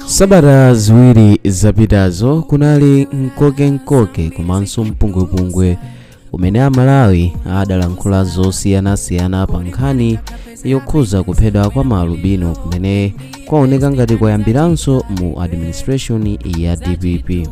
sabata ziwiri zapitazo kunali mkoke-mkoke komanso mpungwepungwe umene amalawi adalankhula zosiyanasiyana pa nkhani yokhuza kuphedwa kwa maalubino kumene kwaoneka ngati kwayambiranso mu administration ya dpp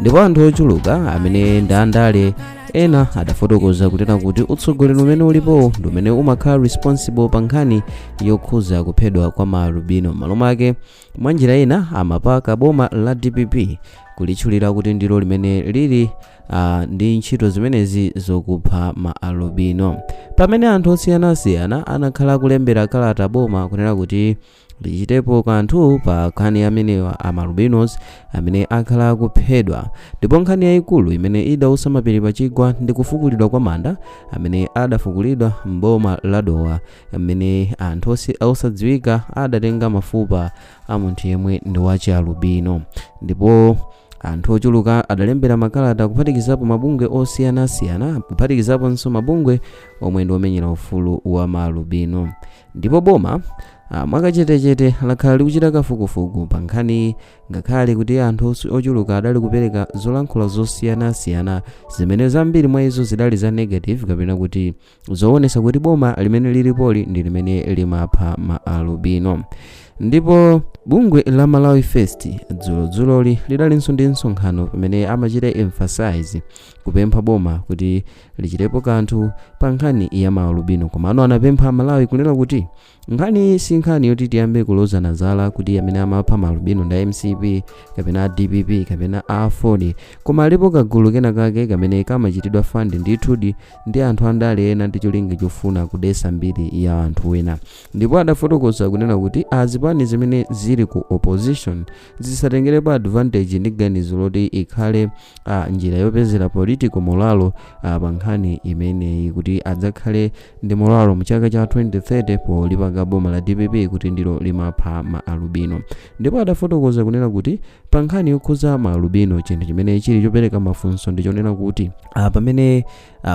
ndipo anthu ochuluka amene ndi andale ena adafotokoza kunena kuti utsogoleri umene ulipowo ndi umene umakhala responsible pa nkhani yokhuza kuphedwa kwa maalubino m'malo mwake mwa njira ina amapaka boma la dpp kulitchulira kuti ndilo limene lili uh, ndi ntchito zimenezi zokupha maalubino pamene anthu osiyanasiyana anakhala akulembera kalata boma kunena kuti lichitepo kanthu pa nkhani ya amenewa a maalubinos amene akhala akuphedwa ndipo nkhani yayikulu imene idausa mapiri pa chigwa ndi kufukulidwa kwa manda amene adafukulidwa m'boma la Dowa amene anthu osi- osadziwika adatenga mafupa a munthu yemwe ndi wa chialubino ndipo anthu ochuluka adalembera makalata kuphatikizapo mabungwe osiyanasiyana kuphatikizaponso mabungwe omwe ndi omenyera ufulu wa maalubino ndipo boma ah, mwakachetechete lakhala likuchita kafukufuku pa nkhaniyi ngakhale kuti anthu os- ochuluka adali kupereka zolankhula zosiyanasiyana zimene zambiri mwa izo zidali za negative kapena kuti zoonesa kuti boma limene lilipoli ndi limene limapha ma alubino ndipo bungwe la malawi first dzulodzuloli lidalinso ndi msonkhano pamene amachita emphasize kupempha boma kuti lichitepo kanthu pa nkhani ya maalubino komano anapempha amalawi kunena kuti nkhaniyi si nkhani yoti tiyambe kulozana zala kuti amene amapha maalubino nda mcp kapena a dpp kapena a aford koma alipo kagulu kena kake kamene kamachitidwa fund ndithudi ndi anthu andale ena ndi cholinga chofuna kudesa mbiri ya anthu ena ndipo adafotokoza kunena kuti azipani zimene zili ku opposition zisatengerepo advantage ndi ganizo loti ikhale ah, njira yopezera political molalo ah, pa nkhani imeneyi kuti adzakhale ndi molalo mu chaka cha 2030 polipaka boma la dpp kuti ndilo limapha ma alubino ndipo adafotokoza kunena kuti pa nkhani yokhuza ma alubino chinthu chimene chili chopereka mafunso ndi chonena kuti ah, pamene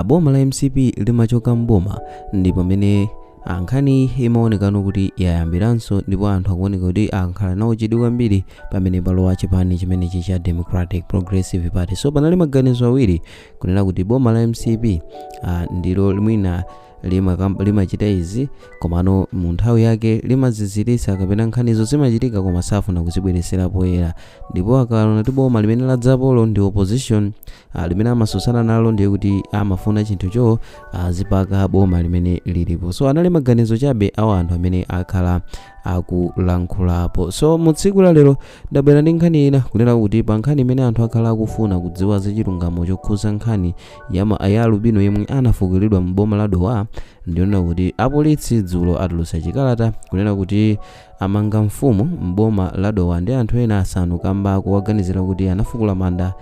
boma la mcp limachoka mboma ndi pamene ah, nkhani iyi imaonekano kuti yayambiranso ndipo anthu akuoneka kuti akhala nayo chidwi kwambiri pamene palowa chipani chimenechi cha democratic progressive party so panali maganizo awiri kunena kuti boma la mcp ah, ndilo mwina limakam- limachita izi komano mu nthawi yake limaziziritsa kapena nkhanizo zimachitika koma safuna kuzibweretsera poyera ndipo akaona kuti boma limene ladzapolo ndi opposition ah, limene amatsutsana nalo ndiye kuti amafuna chinthucho azipaka boma limene lilipo so anali maganizo chabe awa anthu amene akhala akulankhulapo so mu tsiku la lero ndabwera ndi nkhani ina kunena kuti pa nkhani imene anthu akhala akufuna kudziwa za chilungamo chokhuza nkhani Yama a ya alubino yemwe anafukulidwa m'boma la Dowa ndiyonena kuti apolisi dzulo atulutsa chikalata kunena kuti amanga mfumu m'boma la Dowa ndi anthu ena asanu kamba kowaganizira kuti anafukula manda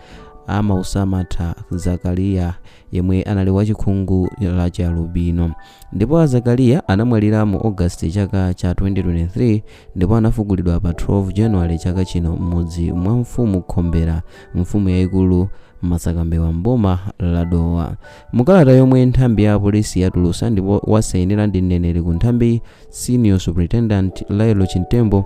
a Maunsamatha Zakaliya yemwe anali wachikhungu la chialubino ndipo a Zakaliya anamwalira mu August chaka cha 2023 ndipo anafukulidwa pa 12 January chaka chino m'mudzi mwa mfumu Khombera mfumu yayikulu msakambewa mboma la dowa mukalata yomwe nthambi ya polisi yatulusa ndipo wasainira ndi mneneri ku nthambi senior superintendent lael chimtembo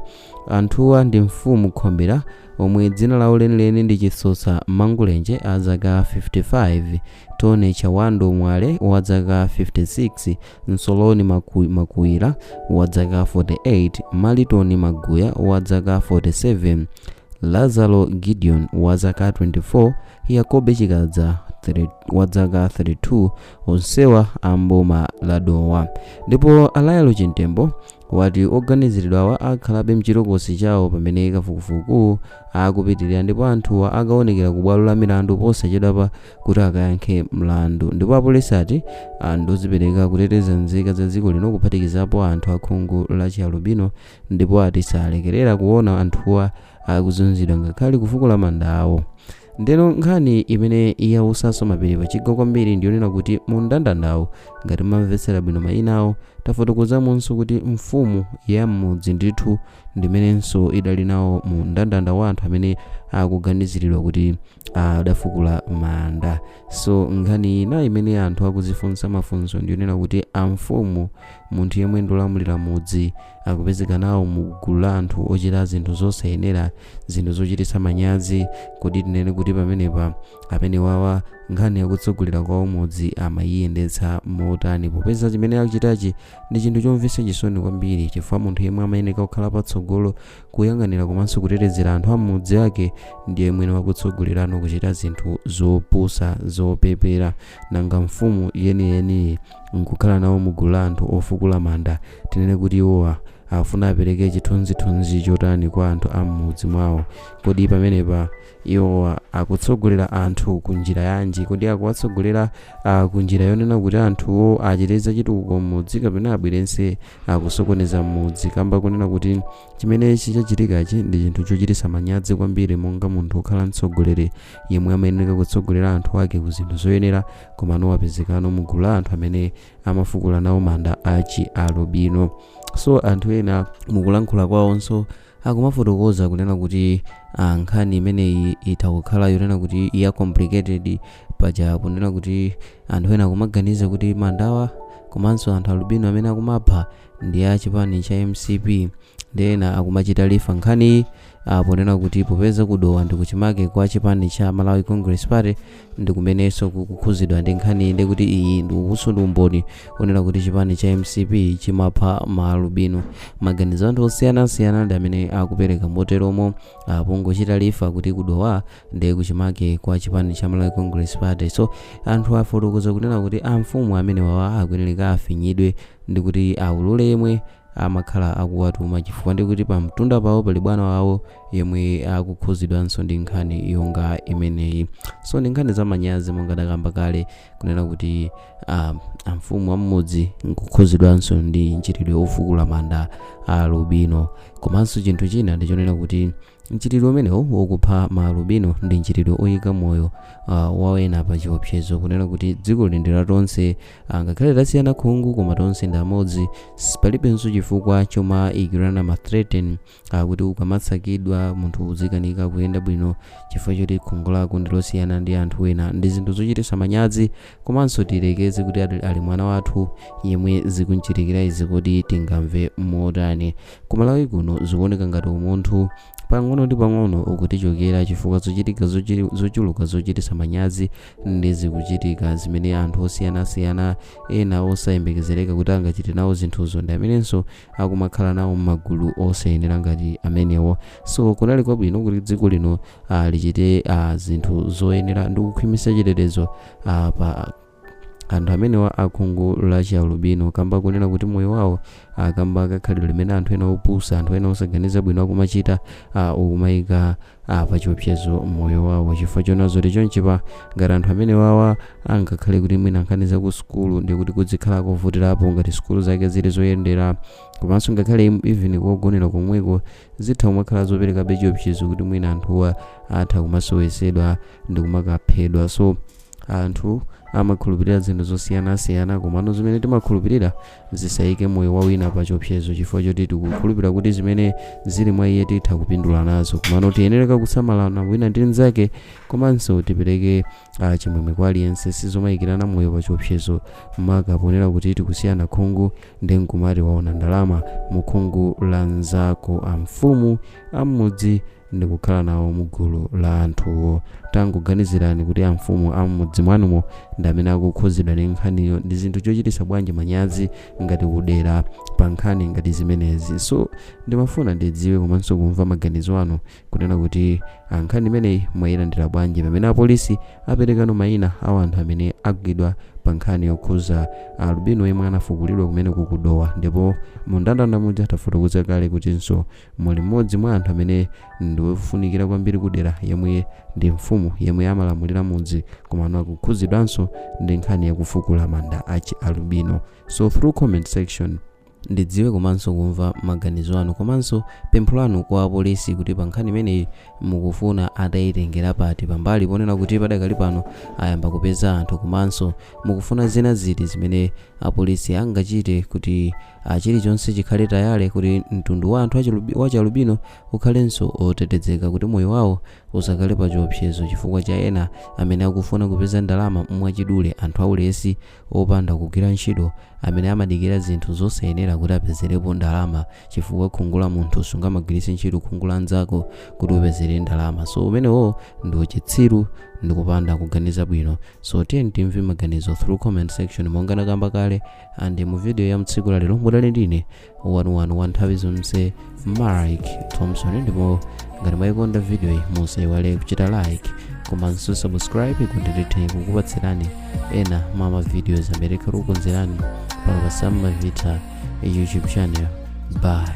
anthuwa ndi mfumu khombera omwe dzina lawo lenileni ndi chisosa mangulenje a zaka 55 tone chawando mwale wa zaka 56 Nsoloni Makuwira wa dzaka 48, Malitoni Maguya wa dzaka 47, Lazaro Gideon wa zaka 24, Yakobe Chikadza wa dzaka 32, onsewa a mboma la Dowa. Ndipo a Lael Chimtembo wati oganiziridwawa akhalabe mchitokosi chawo pamene kafukufuku akupitilira ndipo anthuwa akaonekera ku bwalo la milandu posachedwapa kuti akayankhe mlandu. Ndipo apolisi ati ah, ndozipereka kuteteza nzika za dziko lino kuphatikizapo anthu akhungu la chialubino ndipo ati salekerera kuona anthuwa akuzunzidwa ngakhale kufukula manda awo. Ndeno nkhani imene yautsaso mapiri pachigwa kwambiri ndiyonena kuti mu mndandandawu ngati mamvetsera bwino mayina awo tafotokozamonso kuti mfumu ya m'mudzi ndithu ndimenenso idali nawo mu mndandanda wa anthu amene akuganiziridwa kuti adafukula manda so nkhani ina imene anthu akuzifunsa mafunso ndiyonena kuti amfumu munthu yemwe ndolamulira mudzi akupezeka nawo mu gulu la anthu ochita zinthu zosayenera zinthu zochititsa manyazi kodi tinene kuti pamenepa amene wawa nkhani yakutsogolera kwawo mudzi amayiyendetsa motani popeza chimene akuchitachi Ndi chinthu chomvetsa chisoni kwambiri chifukwa munthu yemwe amayeneka kukhala patsogolo kuyang'anira komanso kutetezera anthu ammudzi ake ndiye mwene wakutsogolerano kuchita zinthu zopusa zopepera nanga mfumu yeniyeniyi nkukhala nawo mugulu la anthu ofukula manda tinene kuti iwowa afuna apereke chithunzithunzi chotani kwa anthu ammudzi mwawo kodi pamenepa Iwo akutsogolera anthu ku njira yanji? Kodi akuwatsogolera ah, ku njira yonena kuti anthuwo achite zachitukuko m'mudzi kapena abwerenso akusokoneza m'mudzi kamba kunena kuti chimene chichachitikachi ndi chinthu chochititsa manyazi kwambiri monga munthu okhala mtsogoleri yemwe amayeneka kutsogolera anthu ake ku zinthu zoyenera komano wapezekano mu gulu la anthu amene amafukula nawo manda a chialubino so anthu ena mukulankhula kwawonso Akumafotokoza kunena kuti ah, nkhani imeneyi itha kukhala yonena kuti ya complicated paja kunena kuti anthu ena akumaganiza kuti mandawa komanso anthu alubino amene akumapha ndi a chipani cha mcp ndi ena akumachita refer nkhaniyi ah, ponena kuti popeza ku Dowa ndi kuchimake kwa chipani cha malawi congress party ndikumenenso kukukhuzidwa ndi nkhaniyi ndekuti iyi uwunso ndi umboni onena kuti chipani cha mcp chimapha ma alubino maganizo anthu osiyanasiyana ndi amene akupereka moteromo pongochita refer kuti ku Dowa ndi kuchimake kwa chipani cha malawi congress party so anthu afotokoza kunena kuti amfumu amene wawa akuyeneleka afinyidwe ndikuti aulule yemwe amakhala akuwatuma chifukwa ndikuti pamtunda pawo pali bwana wawo yemwe akukhuzidwanso ndi nkhani yonga imeneyi so ndi nkhani zamanyazi monga ndakamba kale kunena kuti ah, amfumu am'mudzi nkukhuzidwanso ndi mchitidwe ofukula manda a alubino komanso chinthu china ndichonena kuti mchitidwe umenewo wokupha ma alubino ndi mchitidwe oyika moyo ah, wa ena pa chiopsezo kunena kuti dziko lino ndi la tonse ah, ngakhale tasiyana khungu koma tonse ndi amodzi palibenso chifukwa chomayikirana ma threaten Akuti ukamatsakidwa munthu uzikanika kuyenda bwino chifukwa choti khungu lako ndi losiyana ndi anthu ena. Ndi zinthu zochititsa manyazi komanso tiyerekeze kuti ali mwana wathu yemwe zikum'chitikira izi kodi tingamve motani? Ku Malawi kuno zikuoneka ngati umunthu pang'ono ndi pang'ono ukutichokera chifukwa zochitika zochuluka zochititsa manyazi ndi zikuchitika zimene anthu osiyanasiyana ena osayembekezereka kuti angachite nawo zinthuzo ndi amenenso akumakhala nawo mmagulu osayenera ngati amenewo so kunali kwabwino kuti dziko lino ah, lichite ah, zinthu zoyenera ndi kukhwimitsa chitetezo ah, pa anthu amenewa akhungu la chialubino kamba kunena kuti moyo wawo ah, kamba kakhalidwe limene anthu ena opusa anthu ena osaganiza bwino akumachita ah, ukumayika a pachiopsezo moyo wawo chifukwa chona zoti chonchipa ngati anthu amene wawa angakhale kuti mwina nkhani za ku sukulu ndiye kuti kuzikhala kovutirapo ngati sukulu zake zili zoyendera komanso ngakhale im- even kogonera komweko zitha kumakhala zoperekabe chiopsezo kuti mwina anthuwa atha kumasowetsedwa ndi kumakaphedwa so anthu amakhulupirira zinthu zosiyanasiyana komano zimene timakhulupirira Tisaike moyo wa wina pa chiopsezo chifukwa choti tikukhulupira kuti zimene zili mwa iye titha kupindula nazo. Komano tiyenereka kusamalana wina ndi mnzake komanso tipereke chimwemwe kwa aliyense. Sizomaikirana moyo pa chiopsezo makapoonera kuti tikusiyana khungu nde nkumati waona ndalama mu khungu la mnzako. Amfumu a m'mudzi ndi kukhala nawo mu gulu la anthuwo. Tangoganizirani kuti amfumu a m'mudzi mwanumo ndi amene akukhudzidwa ndi nkhaniyo. Ndi zinthu chochititsa bwanji manyazi ngati kudera pa nkhani ngati zimenezi. So, ndimafuna ndidziwe komanso kumva maganizo anu kunena kuti a nkhani imeneyi mwayilandira bwanji pamene apolisi aperekano mayina a wanthu amene agwidwa pa nkhani yokhuza alubino yemwe anafukulidwa kumeneko ku Dowa ndipo mu ndandanda muja tafotokoza kale kutinso muli mmodzi mwa anthu amene ndi wofunikira kwambiri kudera yemwe ndi mfumu yemwe amalamulira mudzi komano akukhudzidwanso ndi nkhani yakufukula manda achialubino so through comment section ndidziwe komanso kumva maganizo anu komanso pempho lanu kwa apolisi kuti pa nkhani imeneyi mukufuna atayitengera pati pambali ponena kuti padakali pano ayamba kupeza anthu komanso mukufuna zina ziti zimene apolisi angachite kuti ah, chilichonse chikhale tayale kuti mtundu wa anthu wa chialubino ukhalenso otetezeka kuti moyo wawo usakhale pa chiopsezo chifukwa cha ena amene akufuna kupeza ndalama mwachidule anthu aulesi opanda kugwira ntchito amene amadikira zinthu zosayenera kuti apezerepo ndalama chifukwa khungu la munthu sungamagwiritse ntchito khungu la nzako kuti upezere ndalama so umenewo ndi uchitsiru ndi kupanda kuganiza bwino so tiyeni timve maganizo through comment section monga nakamba kale and mu video ya mtsiku la lero mudali ndine wanuwanu wa nthawi zonse mark thompson ndipo ngati mwayikonda video iyi musaiwale kuchita like komanso subscribe kuti nditha kukupatsirani ena mwa mavideos amene tikukonzerani pano pa sam mavita youtube channel bye